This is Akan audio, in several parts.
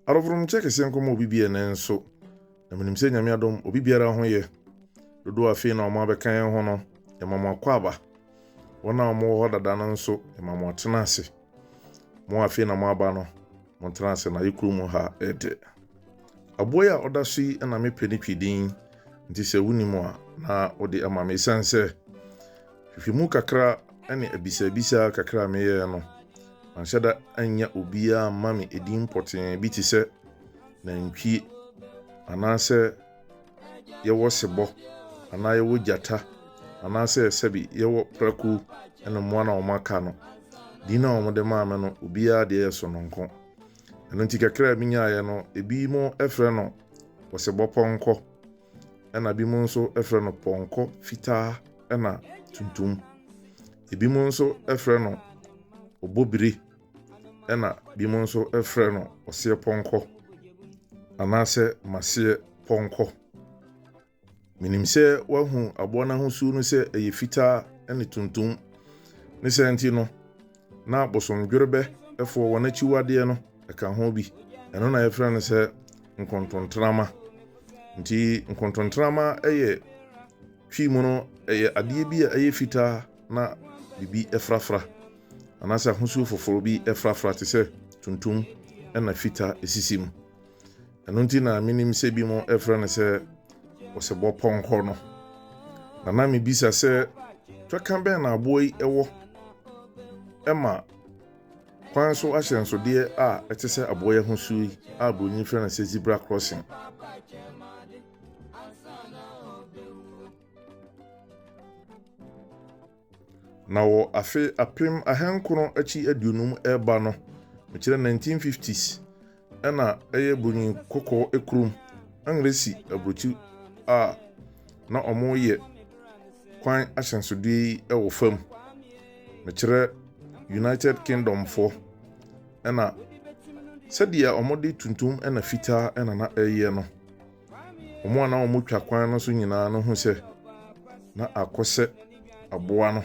Adɔfonom nkyɛ kɛseɛ nkɔma obi bi ɛnɛ nso, na menim sɛ Nyame adom obi biara ho yɛ. Dodoɔ afei na wɔn abɛka yɛn ho no, yɛma mo akɔ aba. Wɔn a wɔn wɔ hɔ dada no nso, yɛma mo atena ase. Mo a afei na mo aba no, mo ntena ase na ayɛ kuro mu ha ɛde. Aboa yi a ɔda so yi na me pɛ ne twi din, nti sɛ wo nim a na wo de ama me, ɛsiane sɛ. Nhwehwɛmu kakra ne abisabisa kakra a meyɛe no, manhyɛ da annya obiara amma me edin pɔtee bi te sɛ nantwie anaasɛ yɛwɔ sebɔ anaa yɛwɔ gyata anaasɛ sɛbi yɛwɔ prako ne mmoa no a wɔaka no. Din a wɔde maa me no, obiara deɛ yɛ sononko. Ɛno nti kakra a minyaeɛ no, ebinom frɛ no ɔsebɔpɔnkɔ. ɛna binom nso frɛ no pɔnkɔ fitaa ɛna tuntum. Ebinom nso frɛ no obobire ɛna binom nso frɛ no ɔseɛ pɔnkɔ anaasɛ maseɛ pɔnkɔ. Menim sɛ woahu aboa no ahosuo no sɛ ɛyɛ fitaa ɛne tuntum. Ne sɛ nti no, Na bosomdwerebɛfoɔ, wɔn akyiwadeɛ no, ɛka ho bi. Ɛno na yɛfrɛ no sɛ nkontontrama. Nti nkontontrama yɛ twi mu no, ɛyɛ adeɛ bi a ɛyɛ fitaa na biribi frafra anaasɛ ahosuo foforɔ bi frafra te sɛ tuntum na fita sisi mu. ɛno nti na menim sɛ bi mo ɛfrɛ no sɛ ɔsɛbɔ pɔnkɔ no na na mebisa sɛ twɛka bɛn na aboa yi ɛwɔ ɛma kwan so ahyɛnsodeɛ a ɛte sɛ aboa yi ahosuo yi a buroni frɛ no sɛ zebra crossing Na wɔ afe apem ahankron akyi aduonum reba no, mekyerɛ 1950s, ɛna ɛyɛ Broni kɔkɔɔ kurom, Anglesi aburokyi a na wɔyɛ kwan ahyɛnsodeɛ yi wɔ fam. Mekyerɛ United Kingdom foɔ, ɛna sɛdeɛ wɔde tuntum ɛna fitaa ɛna na ɛyɛ no, Wɔn a na wɔtwa kwan no so nyinaa no hu sɛ na akɔ sɛ aboa no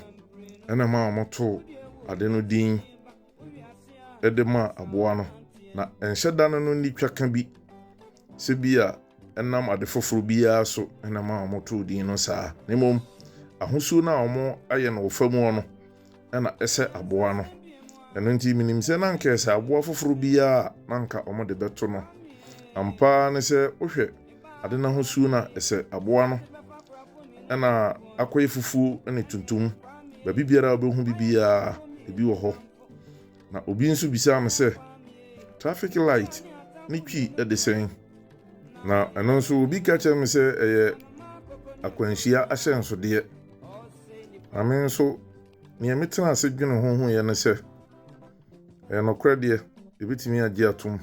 ɛna ma wɔtoo ade no din de ma aboa no. Na ɛnhyɛ da no no nni twa ka bi sɛ bi a ɛnam ade foforɔ biara so ɛna ma wɔtoo din no saa. Na mmom ahosuo no a wɔayɛ no wɔ fam hɔ no na ɛsɛ aboa no. Ɛno nti, minim sɛ na anka ɛsɛ aboa foforo biara a na anka wɔde bɛto no. Ampa ara ne sɛ, wohwɛ ade no ahosuo no a, ɛsɛ aboa no na akɔyɛ fufuo ne tuntum. Baabi biara a wobɛhu bi biara, ebi wɔ hɔ. Na obi nso bisaa me sɛ, traffic light ne twi de sɛn? Na ɛno nso, obi ka kyerɛɛ me sɛ ɛyɛ akwanhyia ahyɛnsodeɛ. Na me nso, nea metena ase dwene ho ho yɛ ne sɛ, ɛyɛ nokorɛ deɛ, yɛbɛtumi agye atom.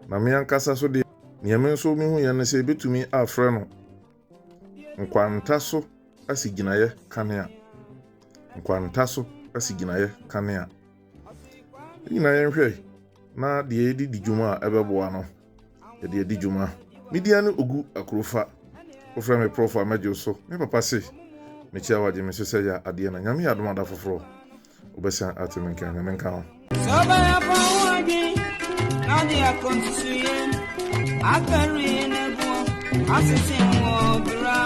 Na me ankasa so deɛ, nea me nso mehu yɛ ne sɛ yɛbɛtumi afrɛ no nkwanta so asigyinaeɛ kanea. Nkwanta so asigyinaeɛ kanea. Yɛn nyinaa yɛnhwɛ na deɛ yɛde di dwuma a ɛbɛboa no. Yɛde adi dwuma. Me din ane Ogu Akurofa. Wofrɛ me Prɔfo a mɛgye wo so. Me papa se mekyia wo a gye me so sɛ ya adeɛ na Nyame yɛ adom a da foforɔ wobɛsan ate me nka. Nyame nka wo. Sɛ ɔbɛyɛ fa ho adwen na ɔde akɔ nsusuiɛ akari na ɛboɔ asese wɔ bra.